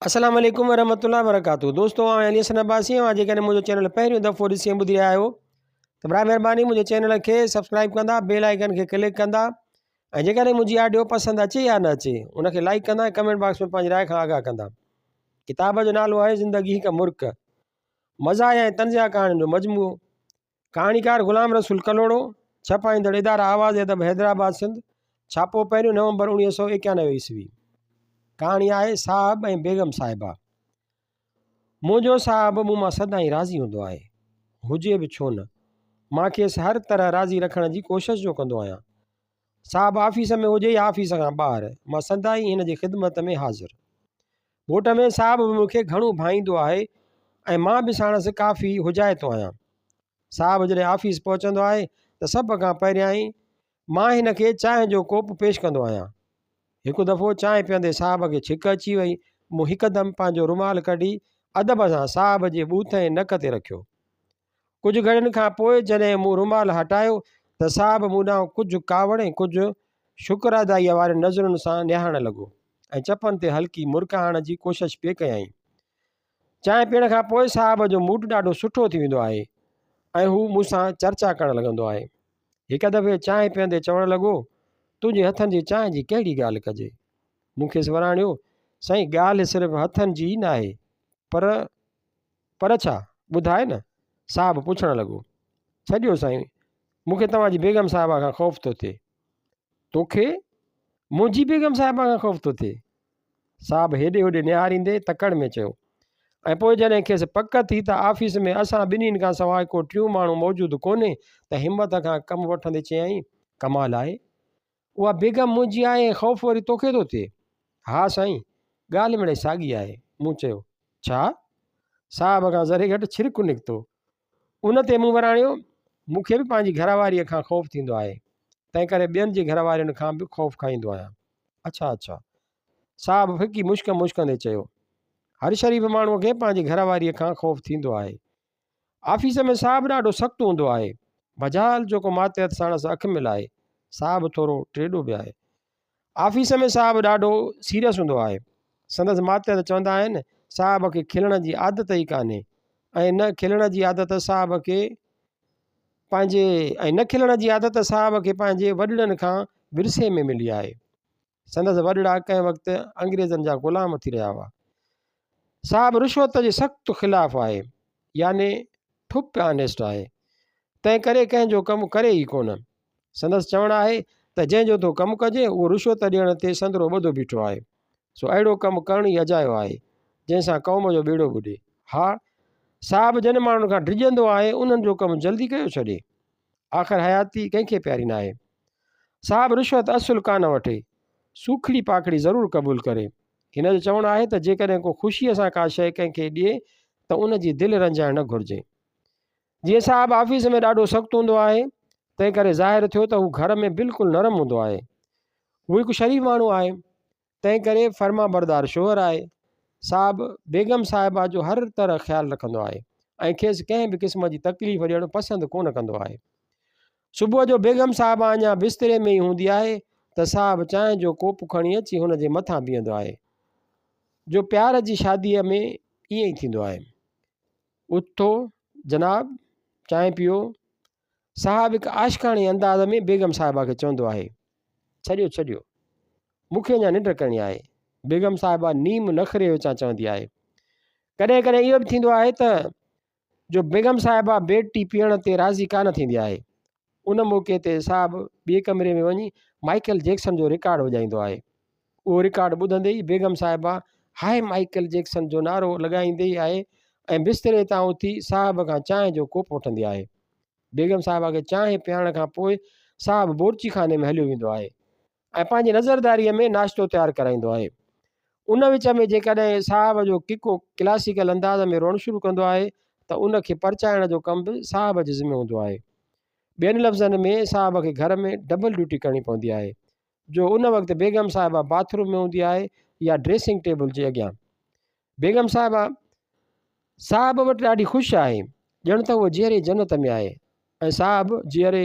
السلام عليڪم ورحمة الله وبرڪاته دوستو آء علي حسن عباسي آهيان جيڪڏهن منهنجو چينل پهريون دفعو ڏسي ۽ ٻڌي رهيا آهيو ته برائي مهرباني منهنجي چينل کي سبسڪرائب ڪندا بيل آئڪن کي ڪلڪ ڪندا ۽ جيڪڏهن منهنجي آڊيو پسند اچي يا نه اچي ان کي لائڪ ڪندا ۽ ڪمينٽ باڪس ۾ پنهنجي راء کان آگاهه ڪندا ڪتاب جو نالو آهي زندگي هڪ مرڪ مزاح ۽ طنزيه ڪهاڻين جو مجموعو ڪهاڻيڪار غلام رسول ڪلهوڙو ڇپائيندڙ اداره آواز ادب حيدرآباد سنڌ ڇاپو پهريون نومبر اڻويهه سو اڪيانوي عيسوي ڪهاڻي آهي صاحب ۽ بيگم صاحبه منهنجو صاحب مون مان سدائين راضي هوندو آهي هجي به ڇو نه مان کيس هر طرح راضي رکڻ جي ڪوشش جو ڪندو آهيان صاحب آفيس ۾ هجي يا آفيس کان ٻاهر مان سدائين هن جي خدمت ۾ حاضر گهوٽ ۾ صاحب به مون کي گهڻو ڀائيندو آهي ۽ مان به ساڻس ڪافي حجائتو آهيان. صاحب جڏهن آفيس پهچندو آهي ته سڀ کان پهريائين مان هن کي چانهه جو ڪوپ پيش ڪندو آهيان. هڪ دفعو چانهه پيئندي صاحب کي ڇڪ اچي وئي، مون هڪدم پنهنجو رومال ڪڍي ادب سان صاحب جي ٻوٿ ۽ نڪ تي رکيو. ڪجهه گهڙين کان پوء جڏهن مون رومال هٽايو ته صاحب مون ڏانهن ڪجهه ڪاوڙ ۽ ڪجهه شڪرادائيء وارين نظرن سان نهارڻ لڳو ۽ چپن تي هلڪي مرڪ آڻڻ جي ڪوشش پئي ڪيائين. چانهه پيئڻ کان پوء صاحب جو موڊ ڏاڍو سٺو ٿي ويندو آهي ۽ هو مون سان چرچا ڪرڻ لڳندو آهي. هڪ دفعي چانهه پيئندي چوڻ لڳو، تنهنجي هٿن جي چانهه جي ڪهڙي ڳالهه ڪجي؟ مون کيس وراڻيو، سائين ڳالهه صرف هٿن جي ئي ناهي پر پر ڇا؟ ٻڌاء نه؟ صاحب پڇڻ لڳو. ڇڏيو سائين، مون کي توهان جي بيگم صاحبه کان خوف ٿو ٿئي. تو کي منهنجي بيگم صاحبه کان خوف ٿو ٿئي؟ صاحب هيڏي هوڏي نهاريندي تڪڙ ۾ چيو ۽ پوء جڏهن کيس پڪ ٿي ته آفيس ۾ اسان ٻنهين کان سواء ڪو ٽيون ماڻهو موجود ڪونهي ته همت کان ڪم وٺندي چيائين، ڪمال آهي اها بيگم منهنجي آهي ۽ خوف وري توکي ٿو ٿئي؟ ها سائين! ڳالهه مڙئي ساڳي آهي. مون چيو، ڇا؟ صاحب کان ذري گهٽ ڇرڪ نڪتو. ان تي مون وراڻيو، مون کي به پنهنجي گهر واريء کان خوف ٿيندو آهي، تنهنڪري ٻين جي گهر وارين کان به خوف کائيندو آهيان. اڇا اڇا! صاحب ڦڪي مشڪ مشڪندي چيو، هر شريف ماڻهوء کي پنهنجي گهر واريء کان خوف ٿيندو آهي. آفيس ۾ صاحب ڏاڍو سخت هوندو آهي. بجال جوڪو ماتحت ساڻس اک ملائي، صاحب ٿورو ٽيڏو به آهي. آفيس ۾ صاحب ڏاڍو سيريس هوندو آهي. سندس ماتحت چوندا آهن، صاحب کي کلڻ جي عادت ئي ڪانهي ۽ نه کلڻ جي عادت صاحب کي پنهنجي ۽ نه کلڻ جي عادت صاحب کي پنهنجي وڏڙن کان ورثي ۾ ملي آهي. سندس وڏڙا ڪنهن وقت انگريزن جا غلام ٿي رهيا هئا صاحب رشوت جي سخت خلاف آهي يعني ٺپ آنيسٽ آهي تنهن ڪري ڪنهن جو ڪم ڪري ئي ڪونه سندس چوڻ آهي ته جنهن جو ٿو ڪم ڪجي اهو رشوت ڏيڻ تي سندرو ٻڌو بيٺو آهي سو اهڙو ڪم ڪرڻ ئي اجايو آهي جنهن سان قوم جو ٻيڙو ٻڏي ها صاحب جن ماڻهن کان ڊڄندو آهي انهن جو ڪم جلدي ڪيو ڇڏي آخر حياتي ڪنهن کي پياري ناهي صاحب رشوت اصل ڪانه وٺي، سوکڙي پاکڙي ضرور قبول ڪري. هن جو چوڻ آهي ته جيڪڏهن ڪو خوشيء سان ڪا شيء ڪنهن کي ڏئي ته ان جي دل رنجائڻ نه گهرجي. جيئن صاحب آفيس ۾ ڏاڍو سخت هوندو آهي، تنهن ڪري ظاهر ٿيو ته هو گهر ۾ بلڪل نرم هوندو آهي. هو هڪ شريف ماڻهو آهي. تنهن ڪري فرمانبردار شوهر آهي. صاحب بيگم صاحبه جو هر طرح خيال رکندو آهي ۽ کيس ڪنهن به قسم جي تڪليف ڏيڻ پسند ڪونه ڪندو آهي. صبح جو بيگم صاحبه اڃا بستري ۾ ئي هوندي آهي ته صاحب چانهه جو ڪوپ کڻي اچي هن جي مٿان بيهندو آهي جو پيار جي شاديء ۾ ائين ئي ٿيندو آهي. اٿو جناب چانهه پيئو. صاحب هڪ عاشقاڻي انداز ۾ بيگم صاحبه کي چوندو آهي، ڇڏيو ڇڏيو، مون کي اڃا ننڊ ڪرڻي آهي. بيگم صاحبه نيم نخري وچان چوندي آهي. ڪڏهن ڪڏهن اهو به ٿيندو آهي ته جو بيگم صاحبه بيڊ ٽي پيئڻ تي راضي ڪانه ٿيندي آهي. ان موقعي تي صاحب ٻئي ڪمري ۾ وڃي مائيڪل جيڪسن جو رڪارڊ وڄائيندو آهي. اهو رڪارڊ ٻڌندي ئي بيگم صاحبه هاء مائيڪل جيڪسن جو نعرو لڳائيندي ئي آهي ۽ بستري تان اٿي صاحب کان چانهه جو ڪوپ وٺندي آهي. بيگم صاحبه کي چانهه پيارڻ کان پوء صاحب بورچي خاني ۾ هليو ويندو آهي ۽ پنهنجي نظرداريء ۾ ناشتو تيار ڪرائيندو آهي. ان وچ ۾ جيڪڏهن صاحب جو ڪڪو ڪلاسيڪل انداز ۾ روئڻ شروع ڪندو آهي ته ان کي پرچائڻ جو ڪم به صاحب جي ذمي هوندو آهي. ٻين لفظن ۾ صاحب کي گهر ۾ ڊبل ڊيوٽي ڪرڻي پوندي آهي. جو ان وقت بيگم صاحبه باٿ روم ۾ هوندي آهي يا ڊريسنگ ٽيبل جي اڳيان. بيگم صاحبه صاحب وٽ ڏاڍي خوش آهي، ڄڻ ته هوء جيئري جنت ۾ آهي ۽ صاحب جيئري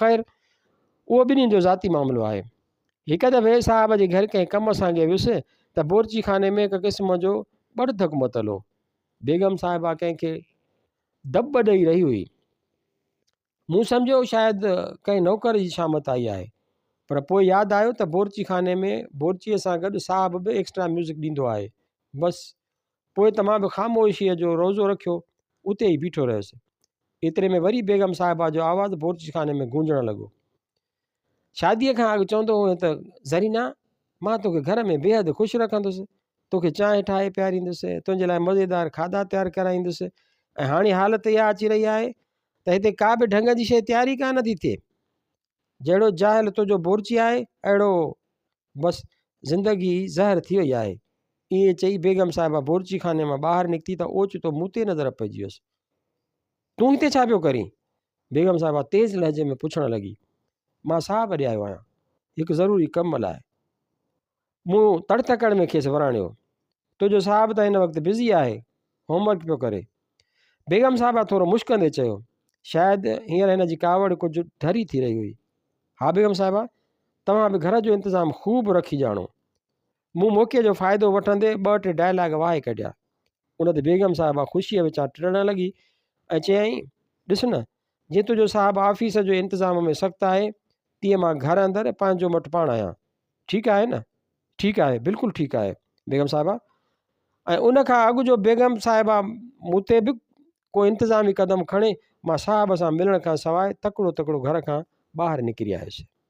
خير اهو ٻنهين جو ذاتي معاملو آهي. هڪ دفعي صاحب جي گهر ڪنهن ڪم سانگي ويس ته بورچي خاني ۾ هڪ قسم جو ٻڙڌڪ متل هو. بيگم صاحبه ڪنهن کي دٻ ڏئي رهي هئي. مون سمجهيو شايد ڪنهن نوڪر جي شامت آئي آهي پر پوء ياد آيو ته بورچي خاني ۾ بورچيء سان گڏ صاحب به ايڪسٽرا ميوزڪ ڏيندو آهي. بس، پوء ته مان به خاموشيء جو روزو رکيو اتي ئي بيٺو رهيس. ايتري ۾ وري بيگم صاحبه جو آواز بورچي خاني ۾ گونجڻ لڳو. شاديء کان اڳ چوندو هئين ته زرينه مان توکي گهر ۾ بيحد خوش رکندس توکي چانهه ٺاهي پياريندس تنهنجي لاء مزيدار کاڌا تيار ڪرائيندس ۽ هاڻي حالت اها اچي رهي آهي ته هتي ڪا به ڍنگ جي شيء تيار ئي ڪا نه ٿي ٿئي جهڙو جاهل تنهنجو بورچي آهي اهڙو بس زندگي زهر ٿي وئي آهي ائين چئي بيگم صاحبه بورچي خاني مان ٻاهر نڪتي ته اوچتو مون تي نظر پئجي ويس تون هتي ڇا پيو ڪرين بيگم صاحبه تيز لهجي ۾ پڇڻ لڳي، مان ساهه ڀري آيو آهيان، هڪ ضروري ڪم لاء. مون تڙ تڪڙ ۾ کيس وراڻيو، تنهنجو صاحب ته هن وقت بزي آهي، هوم ورڪ پيو ڪري. بيگم صاحبه ٿورو مشڪندي چيو، شايد هينئر هن جي ڪاوڙ ڪجهه ڍري ٿي رهي هئي. ها بيگم صاحبه، توهان به گهر جو انتظام خوب رکي ڄاڻو. مون موقعي جو فائدو وٺندي ٻه ٽي ڊائلاگ وهائي ڪڍيا. ان تي بيگم صاحبه خوشيء وچان ٽڙڻ لڳي ۽ چيائين، ڏس نه، جيئن تنهنجو صاحب آفيس جو انتظام ۾ سخت آهي، تيئن مان گهر اندر پنهنجو مٺ پاڻ آهيان. ٺيڪ آهي نه؟ ٺيڪ آهي، بلڪل ٺيڪ آهي بيگم صاحبه. ۽ ان کان اڳ جو بيگم صاحبه مون تي به ڪو انتظامي قدم کڻي، مان صاحب سان ملڻ کان سواء تڪڙو تڪڙو گهر کان ٻاهر نڪري آيس.